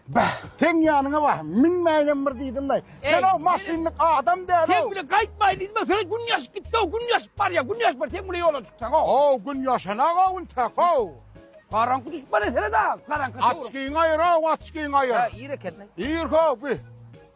Bäh, seň ýanyňa bar, münmäýinem bir diýdim-le. Sen o maşynlyk adam däl-ow. Sen bile gaýtmaýyn diýdim-le, sen gün ýaşyp gitdi-ow, gün ýaşyp barýa, gün ýaşyp bar, sen bile ýola çyksaň-ow. Ow, gün ýaşanag-ow intäk-ow. Garaňky düşüp barýa senä-de, garaňka. Açkyňy aýyr-ow, açkyňy aýyr. Hä, ir eken-le. Ir-how, bi.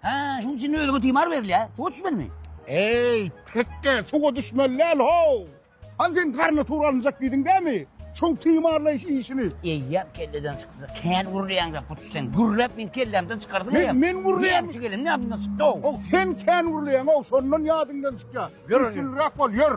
Hä, şunuň üçin özüňe timar berilýär. Suwa düşmelimi? Eý, tekge, suwa düşmeli däl-how! Hany sen garnitury alynjak diýdiň dämi? Şoň timarlaýyş işini. Eýýäm kelleden çykdy. Kän gürleýäň-dä, puç sen. Gürläp meň kellämden çykardyň eýýäm. Men, men gürleýän. Näme üçin geleniň ýadymdan çykdy-ow. Ow, sen kän gürleýäň-ow, şondan ýadyňdan çykýar. Ýör, ýör. Üstünliräk bol, ýör.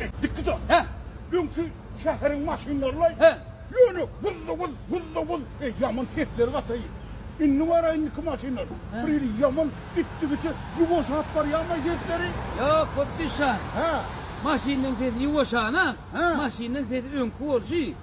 Etdik biz ony. Hä. Öňki şäheriň maşynlarylaý. Hä. Ýöne wuz-da-wuz, wuz-da-wuz, eý, ýaman sesleri gataý. Indi bara indiki maşynlar. Hä. Bir hili ýaman gitdigiçe ýuwaşap barýarmaý sesleri? Ýok, hut düşän. Hä. Maşynlaryň sesi ýuwaşan-a. Hä. Maşynlaryň sesi öňki bolşy.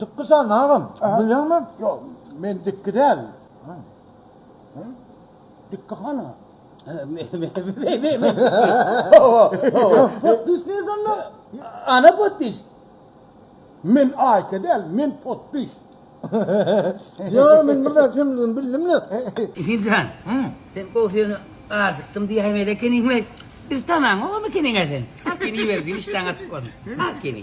Dikki sal agam. Bilýäňmi? Ýok, men dikki däl. Dikki hana. Potdiş nirde onda? Ana potdiş. Men aýka däl, men potdiş. Ýok, men bir zat kimdigini bildim-le. Emin jan, sen gowy söýeni ajykdym diýäýmeli ekeniň-le. Biz tanaňok emekeniň-ä sen. Al kene iberijigim işdäň açyk bolsun. Al kene.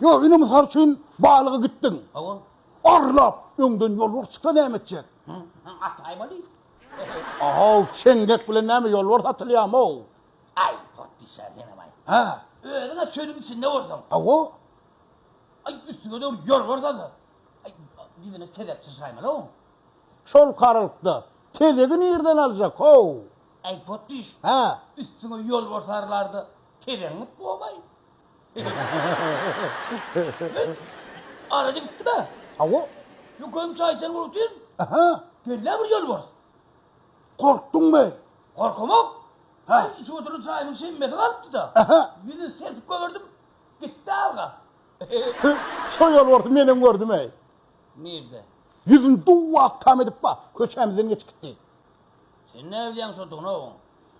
Ýok, ine mysal üçin balyga gitdiň. Hawa. Arlap, öňden ýolbars çyksa näme etjek? Hä, at aýmaly. Ahaw, çeňňek bilen näme ýolbars atylýarmy-ow? Aý, potdişa senem aý. Hä. Özüň-ä çölüň içinde bolsaň. Hawa. Aý, üstüňe dogry ýolbars alsa. Aý, ýüzüne tezek çyrşaýmaly-ow. Şol karalykda tezegi nirden aljak-ow? Äý, potdyş. Hä. Üstüňe ýolbars arylar-da, tezegiňi gowaý. Arada gitdi-bä. Hawa. Ýokum çaýçan bolup otyryn. Aha. Gel-le bir ýolbars. Gorkduňmy? Gorkamok. Ha. Içip oturan çaýymyň şemmesi galypdy-da. Aha. Ýüzüni serpip goýberdim. Gitdi alga. Şo ýolbarsy menem gördüm-eý. Nirde? Ýüzüni duwwak tam edip bar, köçämizden geçip gitdi. Sen näbilýäň şodugyny oň.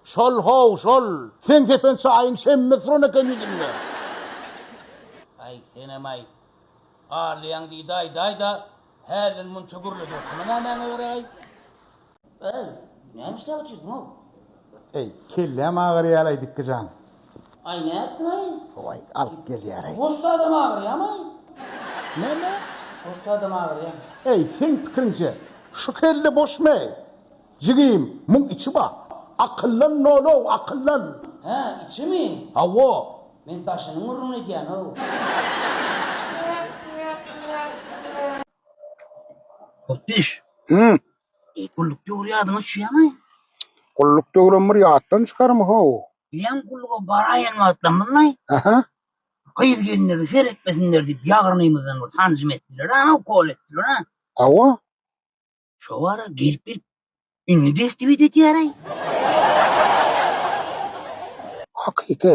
Şol how şol. Seň kefen çaýyň şemmet suran eken ýüzünde. Aý senem-aý. Arlaýaň diýdi aýdaýda hälden munça gürleşersiňä nämäňe göräý. Äý, näme işläp otyrsyň-ow? Äý, kelläm agyrýaly-aý Dikgijan. Aý nätdiňaý? Howaý, alyp gelýäraý. Goşda adam agyrýamaý? Näme? Goşda adam agyrýamy? Eý, seň pikiriňje, şu kelle boşmy? Jigim, muň içi bar. Akyllan nol-ow, akyllan! Hä, içimi? Hawa. Men daşynyň gürrüňini edýän-ow. Hop, iş! Hüm. E, gulluk döwri ýadyňa düşýärmi? Gulluk döwrüm bir ýatdan çykarmy how? Meň gulluga baraýan wagtlarymyzda Aha. gyz-gelinlere seretmesinler diýip, ýagyrnymyzdan bir sanjym etdiler-ä, ana ukol etdiler-ä. Hawa. Şo wara gelip-gelip indi destebit edýär-eý. Hakyky.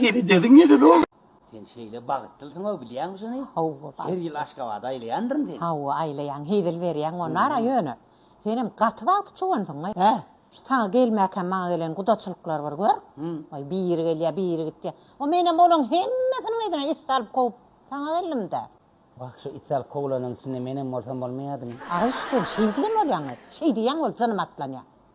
Ýeri dözüm ýeri-le ol. Sen şeýle bagtlysyň-ow, bilýäňmi şuny? Hawa, bagtly. Her ýyl Aşgabada aýlaýandyryn seni. Hawa, aýlaýaň, hezil berýäň onara, ýöne, senem gaty bagtly çogansyň-aý. Hä? Şu saňa gelmäkäm maňa gelen gudaçylyklar bir gör. Waý, biri gelýär, biri gitýär. O menem olaň hemmesiniň yzyna it salyp kowup, saňa geldim-dä. Wah, şu it salyp kowulanyň içinde menem bolsam bolmaýadymy? Agyş, sen şeýdibem bolýaň-aý. Şeý diýýäň, ol jynym atlanýar.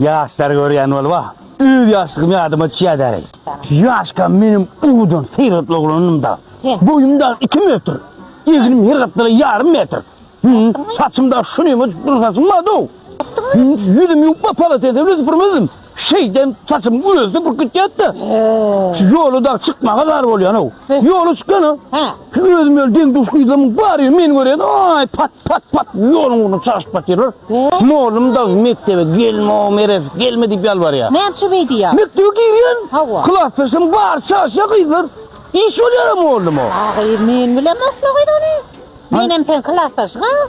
Ýaşlary görýän bolup a öz ýaşlygym ýadyma düşýä däreý. Ýaşkam menem owadan seýrek oglandym da. Boýum dagy iki metr. Egnim her gapdala ýarym metr. Hüm, saçym dagy şu neme uçup duran saçym bardy-ow. Hüm, ýüzümi ýuwup a polosetem de süpürmezdim. Şeýdem saçym özi süpürip gitýärdi-de. Şu ýola dagy çykmaga zar bolýan-ow. Ýola çykýan-a. Özüm öl deň duş gyzlamyň bar ýeri meni görýän aý pat pat pat ýoluň ugruna çaşyp batyrlar. Molym da mekdebe gelme o meres gelme diýip ýalbarýar. Näme üçin beý diýýär? Mekdebe girýän. Hawa. Klasdaşym bar çaşýar gyzlar. Iş bolýar a molym o. Agyr men bilemokmy gyz ony. Menem seň klasdaşyň a.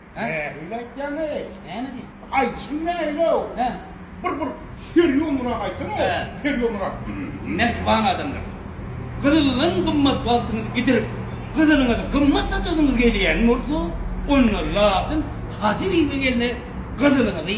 Nähili aýtýaň-eý? Näme diýiň? Aýdyşyň nähili-ow? Hä? Bir, bir serýoznyrak aýtsaň-ow, Hä. serýoznyrak. Mähriban adamlar! Gyzyldan gymmat wagtyňyzy gidirip, gyzylyňyzy gymmat satasyňyz gelýän bolsa, onda laçyn Hajy bibi gelne gyzylyňyzy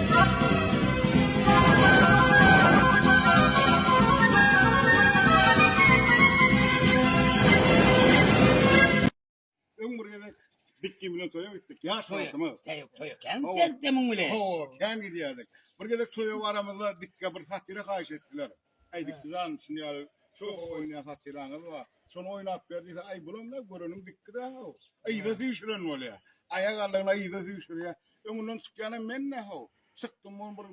Öň bir gezek bitki bilen toýa gitdik. Ýaş Toýa, wagtymyz. toýa, toýa. Kän Hawa. geldi muň bilen. Hawa, kän gidýärdik. Bir gezek toýa baramyzda bitke bir fatyra haýyş etdiler. Aýdyp duran şuny ýaly şoka oýnaýan hatyraňyz bar. Şony oýnap ber diýse, aý bulam-da göreniň dikki dä-how. Yza süýşüren bolýar. Aýak aldygyna yza süýşürýär. Öňünden çykýanam men-dä-how. Çykdym bolum bir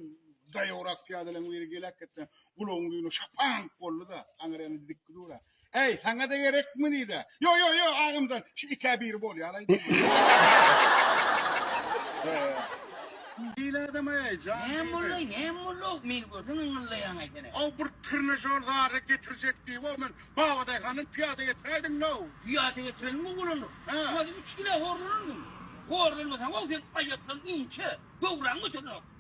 daýawrak pyýadalaryň biri geläkgetdi. Gulagyň düýni şapaňk boldy-da, aňyrýanda dikki durar. Eý, saňa-da gerekmi diýdi. Ýo, ýo, ýo, agamjan, şu ikä biri bolýalaý diýdi. Hile adam-eý, jan diýdi. Näme bolduý, näme bolduý, meni görseň yňyldaýaň ekeni. Ow, bir trnežor zady getirjek diýip-ow men babadaýhandan pyýada getiräýdim-ow. Pyýada getirenmi ogulany? Hä. Ýa-da üç kile horlananmy? Horlanmasaň-ow sen aýaklaň inçe, göwräň göterenok.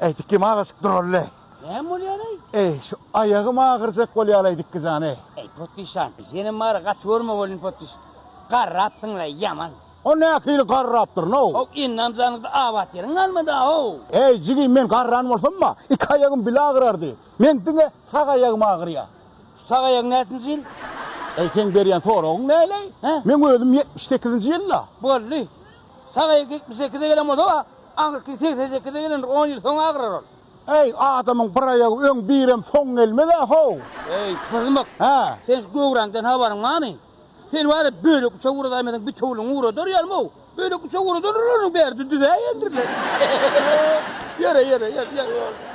Eýdikgim agaçyk duralli. Näme bolýar eý? Eý, şu aýagym agyrjak bolýar eýdikgi jan eý. Eý, potdyşan, senem mara gaty görme bolin potdyş. Garrapsyň-laý ýaman. O nähili garrapdyryn-ow? Ow, indam janyňda abat ýeriň galmady-ow. Eý, jigim, men garran bolsam-a, iki aýagym bile agyrardy. Men diňe sag aýagym agyrýar. Şu sag aýagyň näsinji ýyl? Eý, seň berýän soragyň näleý? Hä? Meň özüm ýetmiş sekizinji ýyl-la. Boldy. Sagaýy ýetmiş sekize gelen bolsa-da, aňyrky segsen sekize gelendir, on ýyl soň agyrar ol. Äý, adamyň bir aýagy öň, birem soň gelmez-ä, how! Äý, pyzmyk! Hä? Seň şu göwräňden habaryň barmy? Sen wara bölek uçak uradaýmasaň, bitewüligiňi uradar ýalym-ow! Bölek uçak uradarlar olaryň bäri, düzüväýendirler. Ýöre, ýöre, ýör, ýör.